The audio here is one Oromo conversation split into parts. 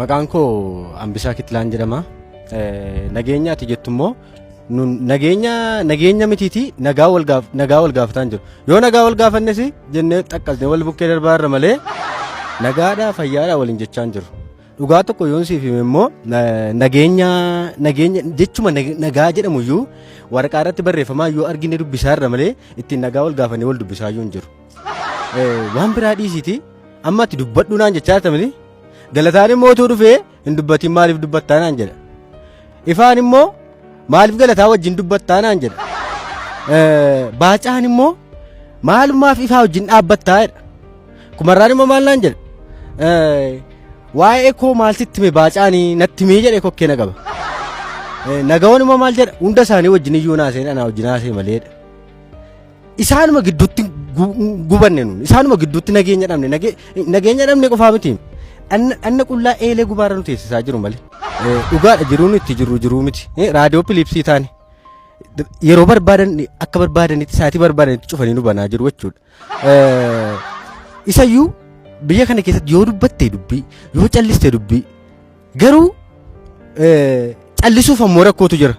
Maqaan koo Ambisaa Kitlaan jedhama. Nageenya ati jettu immoo nageenya nageenya mitiiti nagaa wal gaaf nagaa wal gaafataan jiru. Yoo nagaa wal gaafannes jennee xaqqasnee wal bukkee darbaa irra malee nagaadhaa fayyaadhaa waliin jechaan jiru. Dhugaa tokko yoon siif hime immoo nageenya nageenya jechuma nagaa jedhamu iyyuu waraqaa irratti barreeffamaa iyyuu argine dubbisaa irra malee ittiin nagaa wal gaafannee wal dubbisaa iyyuu hin jiru. Waan biraa dhiisiiti amma ati dubbadhu naan jechaa jirtamini galataan immoo utuu dhufee hin dubbatiin maaliif dubbattaa naan jedha. Ifaan immoo maaliif galataa wajjin dubbattaa naan jedha. Baacaan immoo maalumaaf ifaa wajjin dhaabbattaa jedha. Kumarraan immoo maal naan jedha. Waa'ee koo maal sitti hime baacaanii natti himee jedhee kokkee na qaba. Nagawoon immoo maal jedha hunda isaanii wajjin iyyuu naasee anaa wajjin haasee maleedha. isaanuma gidduutti gubanne nuun isaanuma gidduutti nageenya dhabne nageenya dhabne qofaa miti dhanna qullaa eelee gubaarra nu teessisaa jiru malee dhugaadha jiruun itti jiru jiruu miti raadiyoo piliipsii taane yeroo barbaadan akka barbaadanitti saatii barbaadanitti cufanii nu banaa jiru jechuudha isayyuu biyya kana keessatti yoo dubbatte dubbii yoo calliste dubbii Garuu callisuuf ammoo rakkootu jira.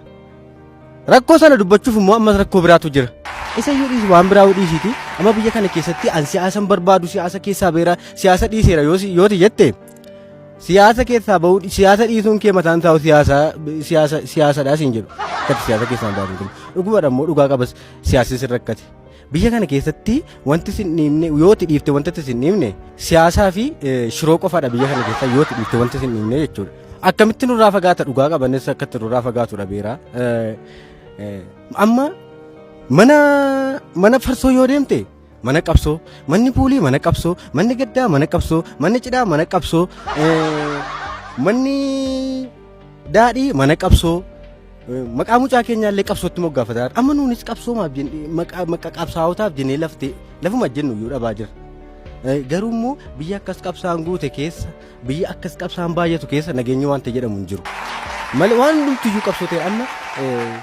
Rakkoo sana dubbachuuf immoo ammas rakkoo biraatu jira. Isa iyyuu dhiisi waan biraa dhiisiiti. Amma biyya kana keessatti an siyaasan barbaadu siyaasa keessaa beera siyaasa dhiiseera yooti jette siyaasa keessaa bahuu siyaasa dhiisuun kee mataan taa'u siyaasa siyaasa siyaasadhaa siin jedhu. Akkati siyaasa keessaa hin baatu. Dhugumadha immoo dhugaa qabas siyaasni sin rakkate. Biyya kana keessatti wanti sin dhiibne yoo ti dhiifte wanti sin dhiibne siyaasaa fi shiroo qofaadha biyya kana keessa yoo ti dhiifte wanti sin dhiibne jechuudha. Akkamitti nurraa fagaata dhugaa qabanis akkatti nurraa fagaatu dhabeera. Amma mana mana farsoo yoo deemte mana qabsoo manni puulii mana qabsoo manni gaddaa mana qabsoo manni cidhaa mana qabsoo manni daadhii mana qabsoo Maqaa mucaa keenyaa illee qabsootti moggaafataa amma nuunis qabsoomaaf jennee maqaa maqaa qabsaa'otaaf jennee laftee lafuma jennu iyyuu dhabaa jira. Eh, Garuu immoo biyya akkas qabsaan guute keessa biyya akkas qabsaan baay'atu keessa nageenyi wanta jedhamu hin jiru. Malee waan hundumtu iyyuu qabsoo ta'e amma eh,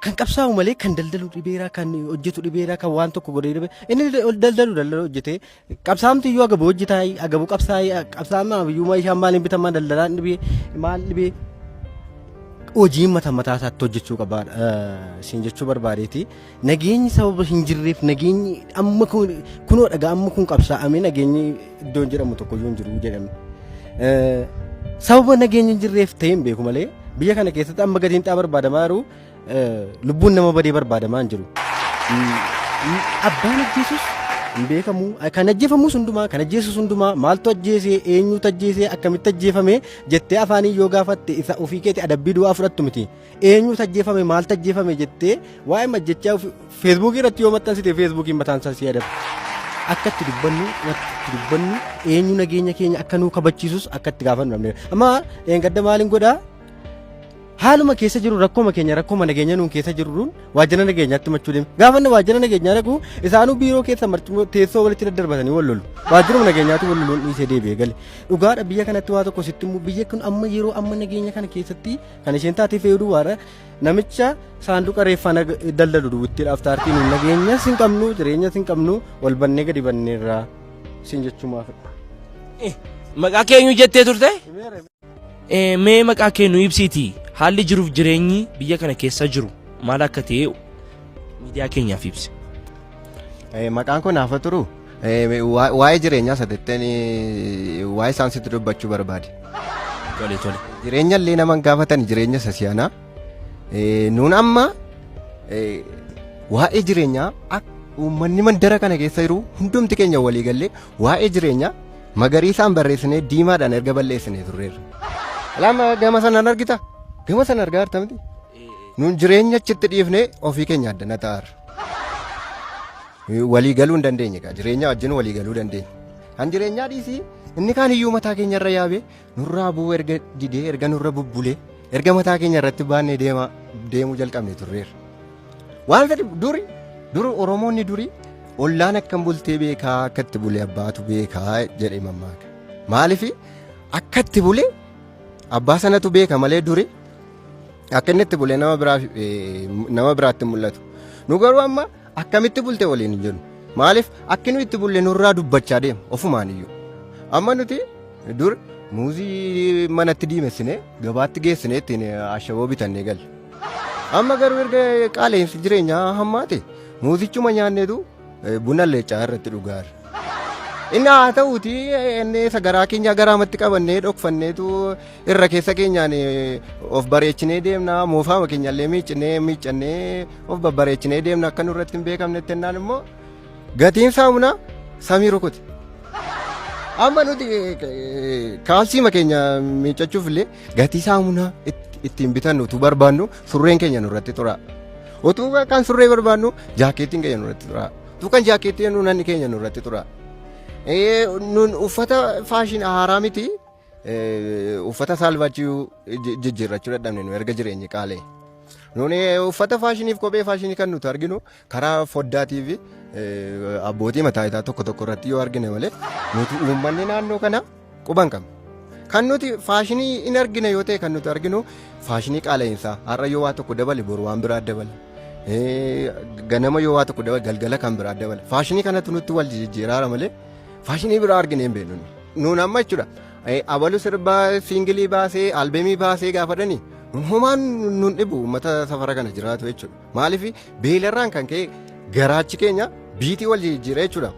kan qabsaa'u malee kan daldalu dhibeeraa kan hojjetu dhibeeraa kan waan tokko godhee dhibee inni daldalu daldalu hojjetee Qabsaamtu iyyuu agabu hojji taa'ii agabu qabsaa'ii qabsaa'aa iyyuu meeshaan maaliin bitamaa daldalaan dhibee maal dhibee hojiin mata mataa isaatti hojjechuu qaba siin jechuu barbaadeeti. Nageenyi sababa hin jirreef nageenyi amma kun kunoo dhagaa amma kun qabsaa'amee nageenyi iddoo hin jedhamu tokko iyyuu hin jiru jedhame. Sababa nageenyi hin jirreef ta'e hin beeku malee biyya kana keessatti amma gadiin xaa barbaadamaa jiru lubbuun nama badee barbaadamaa hin jiru. Abbaan ajjeesus hin beekamu. Kan ajjeefamus hundumaa, kan ajjeesus hundumaa maaltu ajjeesee, eenyutu ajjeesee, akkamitti ajjeefame jettee afaanii yoo gaafatte isa ofii keetti adabbii du'aa fudhattu miti. Eenyutu ajjeefame, maaltu ajjeefame jettee waa'ee majjechaa feesbuukii irratti yoo maxxansite feesbuukiin mataan isaa si adaba. Akka itti dubbannu, wanti itti dubbannu eenyu nageenya keenya akka nuu kabachiisus akka itti gaafannu dhabneera. Amma dheengadda maaliin godhaa? Haaluma keessa jiru rakkoma keenya rakkoma nageenya nuun keessa jirruun waajjira nageenyaatti machuu deeme. Gaafa inni waajjira nageenyaa dhaqu isaanuu biiroo keessa marcuma teessoo walitti daddarbatanii wal lolu. Waajjiruma nageenyaatti wal loluun dhiisee deebi'ee gale. Dhugaadha biyya kanatti waa tokko sitti immoo biyya kun amma yeroo amma nageenya kana keessatti kan isheen taatee fe'uu duwwaadha. Namicha saanduqa reeffaa nag- daldalu duwwitti dhaaftaartiin nageenya sin qabnu jireenya sin qabnu wal bannee gadi banneerra sin jechumaafidha. Maqaa keenyu jettee turte? Eh, Mee maqaa kee nu ibsiiti haalli jiruuf jireenyi biyya kana keessa jiru maal akka ta'e miidiyaa keenyaaf ibsi. Eh, Maqaan kun hafa turu Eh, wa- waa'ee jireenyaa sadatteen waa'ee isaan sitti dubbachuu barbaade. Tole tole. Jireenya illee nama hin gaafatan jireenya isa si'anaa. Eh, Nuun amma eh, waa'ee jireenyaa akka uummanni mandara kana keessa jiru hundumti keenya walii gallee Waa'ee jireenyaa magariisaan barreessinee diimaadhaan erga balleessinee turreerra. Lama gama sanaan argita. Gama sana argaa jirta miti. Nuun jireenya achitti dhiifnee ofii keenya addana ta'aarra. Walii galuu hin dandeenye kaa jireenya wajjin walii galuu dandeenya. Kan jireenyaa dhiisii inni kaan iyyuu mataa keenya irra yaabee Nurraa bu'uu erga didee erga nurra bubbulee erga mataa keenya irratti baannee deemaa deemuu jalqabne turreerra. Waan fedhe duri duri Oromoonni duri ollaan akkam bultee beekaa akka itti bulee abbaatu beekaa jedhee mammaaka. Maaliif akka itti bulee abbaa sanatu beeka malee duri akka inni itti bulee nama biraa eh, nama biraatti hin mul'atu. Nu garuu amma Akkamitti bulte waliin hin jennu. Maaliif akki nu itti bulle nurraa dubbachaa deema ofumaan iyyuu. Amma nuti dur muuzii manatti diimessinee gabaatti geessinee ittiin ashaboo bitannee galle. Amma garuu erga qaala'insi jireenyaa hammaate muuzichuma nyaanneetu eh, buna leecaa irratti dhugaa jirra. Inni haa ta'uuti inni isa garaa keenya garaamatti qabannee dhokfanneetu irra keessa keenyaan eh, of bareechinee deemna moofaama keenyallee miiccinee miiccannee of babbareechinee deemna akka nurratti hin beekamnetti jennaan immoo gatiin saamunaa samii rukute. Amma nuti eh, eh, kaalsiima keenya miiccachuuf illee gatii saamunaa itti- ittiin bitannu utuu barbaannu surreen keenya nurratti tura. Utuu kan surree barbaannu jaakeettiin keenya nurratti tura. Utuu kan jaakeettiin nuunanni keenya nurratti tura. Eh, Nun uffata faashin haaraa miti. Eh, uffata saalfachuu ji- jijjiirrachuu dadhabne nu erga jireenyi qaalee. Nuni uffata faashiniif kophee faashinii kan nuti arginu karaa foddaatii fi eh, abbootii mataa isaa tokko tokko irratti yoo argine malee nuti uummanni naannoo kana quban qabna. Kan nuti faashinii hin argine yoo ta'e kan nuti arginu faashinii qaala'insaa har'a yoo waa tokko dabale boru waan biraa dabala. Eh, Ganama yoo waa tokko dabale galgala kan biraa dabala. Faashinii kanatu nutti wal jijjiiraara malee Faashinii biraa arginee hin beeknu. Nuun amma jechuudha. Abalu sirbaa siingilii baasee albeemii baasee gaafatanii homaan nun dhibu uummata safara kana jiraatu jechuudha. Maaliif beelarraan kan ka'e garaachi keenya biitii wal jijjiira jechuudha.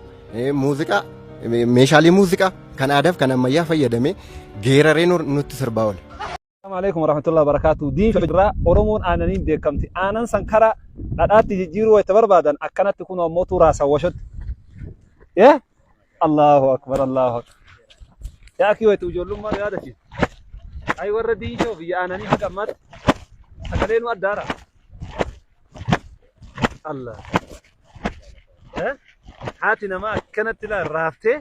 Muuziqaa meeshaalee muuziqaa kan aadaaf kan ammayyaa fayyadamee geeraree nutti sirbaa oola. Assalamu alaikum warahmatullahi wabarakatuh. Diin fidraa Oromoon aananiin beekamti. Aanan san karaa dhadhaatti jijjiiruu wayita barbaadan akkanatti kunoo mootuu raasan washotti. Yee? Allahu akbar Allahu akbar. Yaa akii wayita ijoollummaa yaadachiisa. Ayi warra diin shoo biyya aananii haga ammaatti sagalee nu addaara. Allah. Eh? Haati namaa akkanatti ilaa raaftee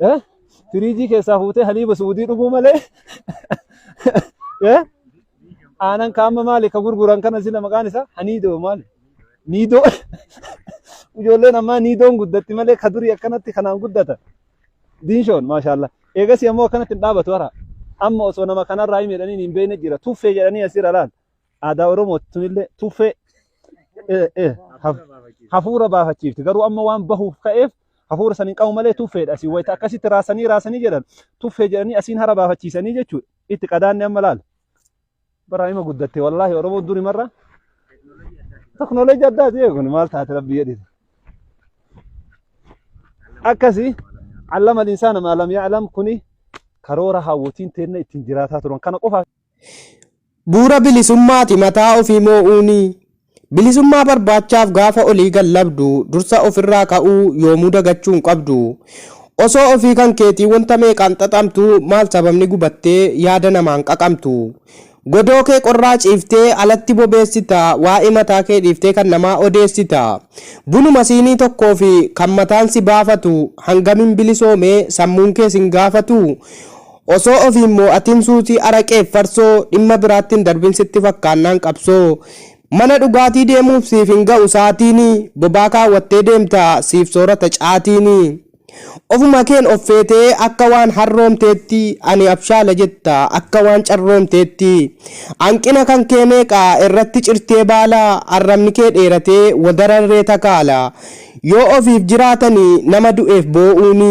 Eh? Firiijii keessaa fuutee haliiba suudii dhuguu malee. Eh? Aanan kaama maali ka gurguran kana sila maqaan isaa haniidoo maali? Niidoo. Ijoolleen ammaa niidoon guddatti malee ka durii akkanatti kanaan guddata. Diinshoon maashaallah. Eegas ammoo akkanatti hin dhaabatu hara. Amma osoo nama kanarraa hin jedhaniin hin beekne jira. Tuffee jedhanii asirra laal. aadaa Oromooti tunillee tuffee eh, eh, haf- hafuura baafachiifti. Garuu amma waan bahuuf ka'eef hafuura san hin qabu malee tuffeedha. Asiin wayita akkasitti raasanii raasanii jedhan tuffee jedhanii asiin hara baafachiisanii jechuudha. Itti qadaanni amma laala. Bara hima guddatte wallaahi Oromoo duri marra. Teknoolojii addaati jee kun maal taate rabbi jedhite. Akkasii allama insaana maalam yaalam kuni karoora hawwatiin teenna ittiin jiraataa turan kana qofaaf Bu'uura bilisummaati mataa ofii moo'uuni. Bilisummaa barbaachaaf gaafa olii gad labdu dursa ofirraa ka'uu yoomuu dagachuu hin qabdu. Osoo ofii kan keetii wanta meeqaan xaxamtuu maal sababni gubattee yaada namaan qaqamtu. Godoo kee qorraa ciiftee alatti bobeessita waa'ee mataa kee dhiiftee kan namaa odeessita. Bunuma siinii tokkoofi kan mataan si baafatu hangam hin bilisoomee sammuun kee sin gaafatuu? Osoo of hin moo'atin suusii araqeef farsoo dhimma biraatti hin darbin sitti fakkaannaan qabsoo Mana dhugaatii deemuuf siif hin ga'u saatiin Bobaa kaawwattee deemta siif soorata caatiin Ofuma keen of feetee akka waan harroomteetti Ani abshaala jetta akka waan carroomteetti Hanqina kan kee meeqa irratti cirtee baala Arrabni kee dheeratee wadara irree takaala Yoo ofiif jiraatani nama du'eef boo'uuni